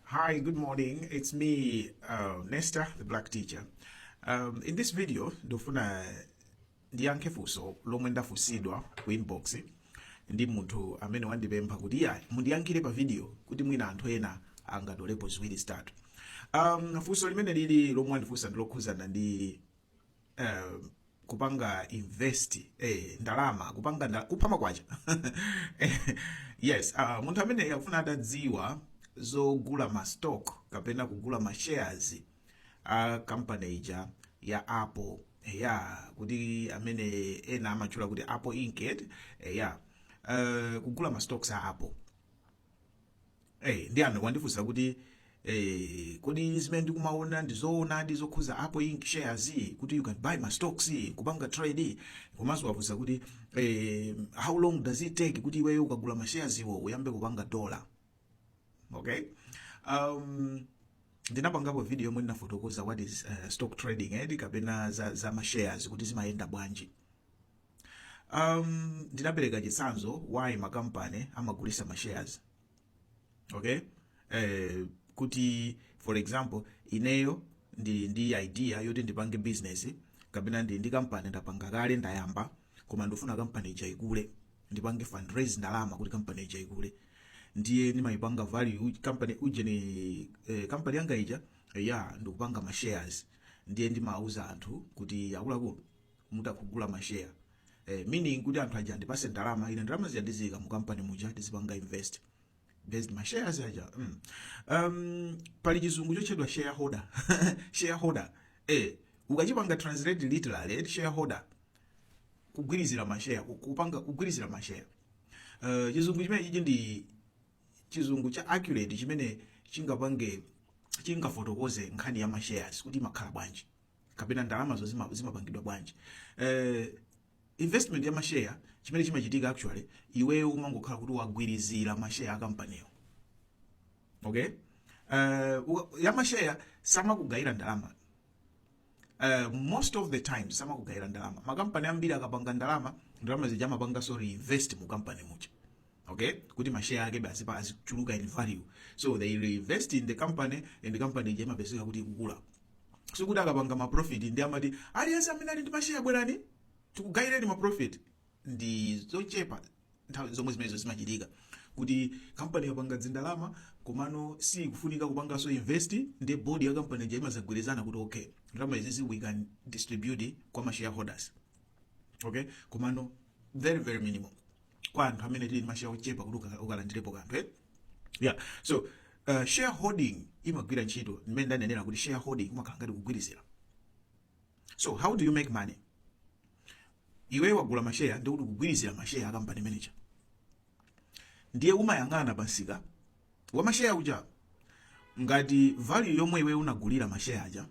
Hi, good morning. It's me, uh, Nesta, the black teacher. Um, in this video, ndofuna ndiyankhe funso lomwe ndafunsidwa ku inbox ndi munthu amene wandipempha kuti iya mundiyankhire pa video kuti mwina anthu ena angatolepo ziwiri zitatu. Um, funso limene lili lomwe wandifunsa ndilokhudzana ndi uh, kupanga invest eh, ndalama kupanga nda, kupha makwacha yes uh, munthu amene akufuna atadziwa zogula ma stock kapena kugula ma shares a company ija ya apple ya kuti amene ena amatchula kuti apple inc eh, ya uh, kugula ma stocks a apple Eh, ndi amene wandifunsa kuti eh, kodi zimene ndikumaona ndi zoonadi zokhuza Apple Inc shares kuti you can buy ma stocks kupanga trade komanso wafunsa kuti eh, how long does it take kuti iweyo ukagula ma shares iwo uyambe kupanga dollar okay um, ndinapangapo video yomwe ndinafotokoza what is uh, stock trading edi kapena za, za ma shares kuti zimayenda bwanji um, ndinapereka chitsanzo why makampani amagulisa ma shares okay eh, kuti for example ineyo ndili ndi idea yoti ndipange business kapena ndili ndi kampani ndapanga kale ndayamba koma ndifuna kampani ija ikule ndipange fundraise ndalama kuti kampani ija ikule ndiye ndimayipanga value company ujeni eh, company yanga ija ndikupanga ma shares ndiye ndimauza anthu kuti akuluakulu mutha kugula ma share eh, meaning kuti anthu aja andipase ndalama ine ndalama zija ndiziyika mu company muja ndizipanga invest basi ma shares aja mm. um, pali chizungu chotchedwa shareholder shareholder eh, ukachipanga translate literally eh, shareholder kugwirizira mashare ku- kupanga kugwirizira mashare uh, chizungu chimene ichi ndi chizungu cha accurate chimene chingapange chingafotokoze nkhani ya mashares kuti imakhala bwanji kapena ndalamazo zima- zimapangidwa bwanji eh, investment ya mashare chimene chimachitika actually iweyo umangokhala kuti wagwirizira mashare a kampaniyo okay uh, wa- ya mashare samakugayira ndalama uh, most of the times samakugayira ndalama makampani ambiri akapanga ndalama ndalama zija amapanganso reinvest mu kampani muja okay kuti mashare ake basi pa azichuluka in value so they reinvest in the company and the company ija imapezeka kuti ikukula sikuti akapanga ma profit ndiye amati aliyense amene ali ndi mashare bwerani tikugayireni ma profit ndi zochepa nthawi zomwe zimenezo zimachitika kuti kampani yapanga dzindalama komano sikufunika kupanganso invest ndiye board ya kampani ija imazagwirizana kuti okay ndalama izizi we can distribute kwa ma shareholders okay komano very very minimal kwa anthu amene tili ndi mashare ochepa kuti uka- ukalandirepo kanthu eh? yeah so uh, shareholding imagwira ntchito mmene ndanenera kuti shareholding umakhala ngati kugwirizira so how do you make money iwe wagula masheya ndiye kuti kugwirizira masheya akampani mwakuti ndiye umayang'ana pamsika wa masheya kuja ngati value yomwe iweyo unagulira masheya aja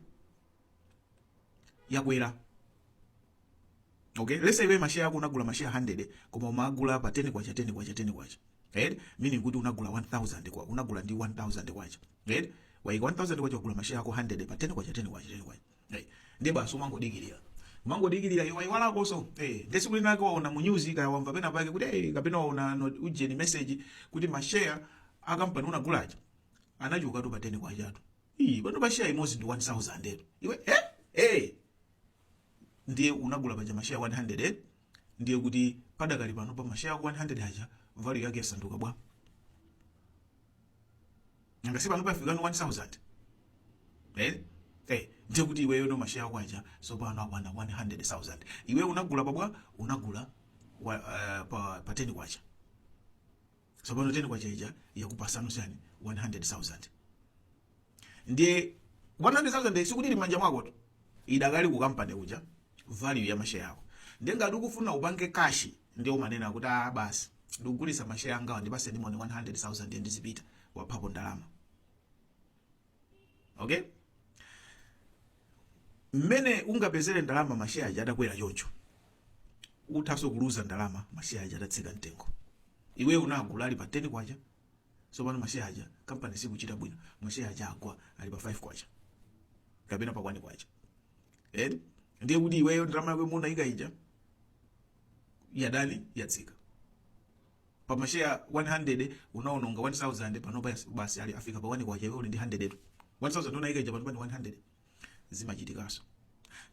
yakwera Okay, let's say iwe ma share ako unagula ma share 100 koma umagula pa 10 kwacha 10 kwacha 10 kwacha. Right? Meaning kuti unagula 1000 kwa unagula ndi 1000 kwacha. Right? Waika 1000 kwacha kugula ma share ako 100 pa 10 kwacha 10 kwacha 10 kwacha. Right? Ndiye basi umangodikirira. Umangodikirira iwe iwalakoso. Eh, ndiye tsiku linake waona mu news kaya wamva pena pake kuti eh kapena waona no- ujeni message kuti ma share akampani unagula aja. Anachokatu pa 10 kwachatu. Ii, pano pa share imozi ndi 1000 etu. Iwe eh eh ndiye unagula paja mashare 100 eh? ndiye kuti padakali pano pa mashare ako 100 aja value yake yasanduka bwa nanga si pano pafikano 1000 eh eh ndiye kuti iweyono mashare ako aja sopano akwana 100000 iwe unagula pabwa unagula wa, uh, pa, pa 10 kwacha tsopano 10 kwacha ija yakupasano chani 100000 ndiye 100000 sikuti ili m'manja mwako tu idakali ku kampani kuja value ya masheya yako ndiye ngati ukufuna upange kashi ndiye umanena kuti ah basi ndikugulitsa masheya angawa ndipase ndimone 100000 yanga ndizipita waphapo ndalama okay mmene ungapezere ndalama masheya aja atakwera choncho uthanso kuluza ndalama masheya aja atatsika mtengo iweyo unagula ali pa 10 kwacha sopano masheya aja kampani sikuchita bwino masheya aja agwa ali pa 5 kwacha kapena pa 1 kwacha eh ndiye kuti iweyo ndalama yako imene unaika ija yadani yatsika pa ma share 100 unaononga 1000 panopa yas- basi afika pa 1 kwacha iwe uli ndi 100tu 1000 unaika ija panopa ndi 100 zimachitikaso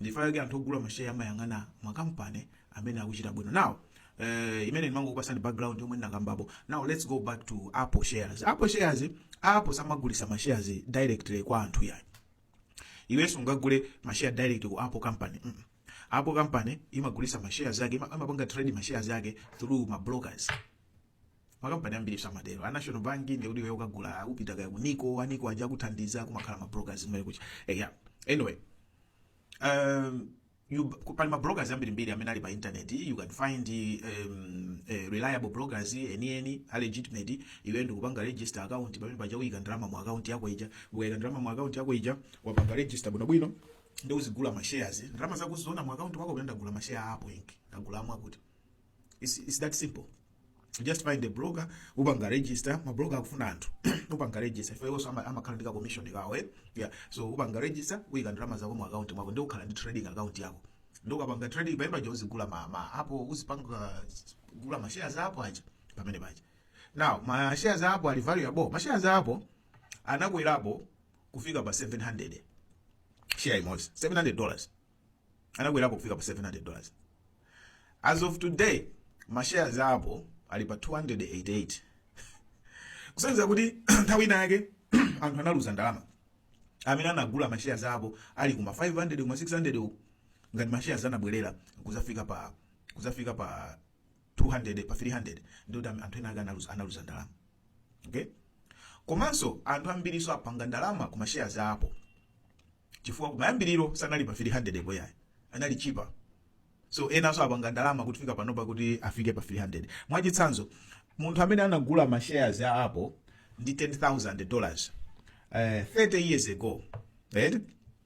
nchifukwa chake anthu ogula masheya amayang'ana makampani amene akuchita bwino now eh, imene ndimangokupasani background yomwe ndinakambapo now let's go back to apple shares apple shares apple samagulisa mashares directly kwa anthu yayi iwe sungagule mashare direct ku apple company mm. apple company imagulisa mashare zake ima- amapanga trade mashare zake through ma brokers makampani ambiri samatero a national bank ndiye kuti ukagula upita kaya ku NICO a NICO aja akuthandiza kumakhala ma brokers mmene kuja eya anyway um, You, pali ma brokers ambirimbiri amene ali pa internet you can find um, uh, reliable brokers enieni a legitimate iwe ndikupanga register account pamene paja uyika ndalama mu account yako ija ukayika ndalama mu account yako ija wapanga register bwinobwino ndiye uzigula ma shares ndalama zako uziona mu account mwako unena ndagula ma share a Apple Inc ndagula amwakuti it's, it's that simple just find a broker upanga register mabroker akufuna anthu upanga register ife iwonso ama- amakhala ndi ka commission kawo eh? yeah. so upanga register uyika ndalama zako mu account mwako ndi ukhala ndi trading account yako ndi ukapanga trading pamene paja uzigula ma, ma Apple uzipanga gula ma shares a Apple aja pamene paja now ma shares a Apple ali valuable ma shares a Apple anakwerapo kufika pa 700 share imodzi 700 dollars anakwerapo kufika pa 700 dollars as of today ma shares a apple ali pa 288 kusonyeza kuti nthawi ina yake anthu analuza ndalama amene anagula ma shares a apple ali kuma 500 kuma 600 uku ngati ma shares anabwerera kuzafika pa kuzafika pa 200 pa 300 ndi kuti anthu ena ake analuza analuza ndalama okay komanso anthu ambirinso apanga ndalama ku mashares a apple chifukwa kumayambiriro sanali pa 300 po ayi anali cheaper so enanso apanga ndalama kufika panopa kuti afike pa 300 mwachitsanzo munthu amene anagula ma shares a apple ndi 10000 dollars eh, 30 years ago right?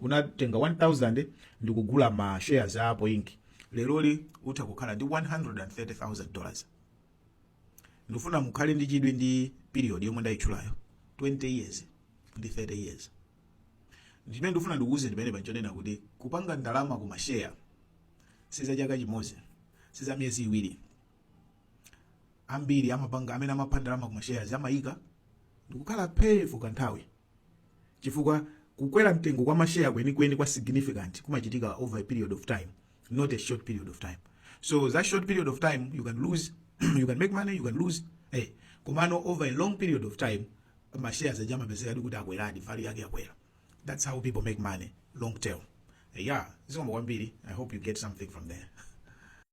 unatenga 1000 ndikugula ma shares a Apple inc leroli utha kukhala ndi 130000 dollars ndifuna mukhale ndi chidwi ndi period yomwe ndayitchulayo 20 years ndi 30 years ndimene ndifuna ndikuuze ndimene panchonena kuti kupanga ndalama ku mashare si za chaka chimodzi si za miyezi iwiri ambiri amapanga amene amapha ndalama ku mashares amayika ndikukhala pay for kanthawi chifukwa kukwera mtengo kwa mashare kwenikweni kwa significant kumachitika over a period of time not a short period of time so that short period of time you can lose you can make money you can lose eh komano over a long period of time mashares aja amapezeka ndi kuti akweradi value yake yakwera that's how people make money long term yeah zikomo kwambiri i hope you get something from there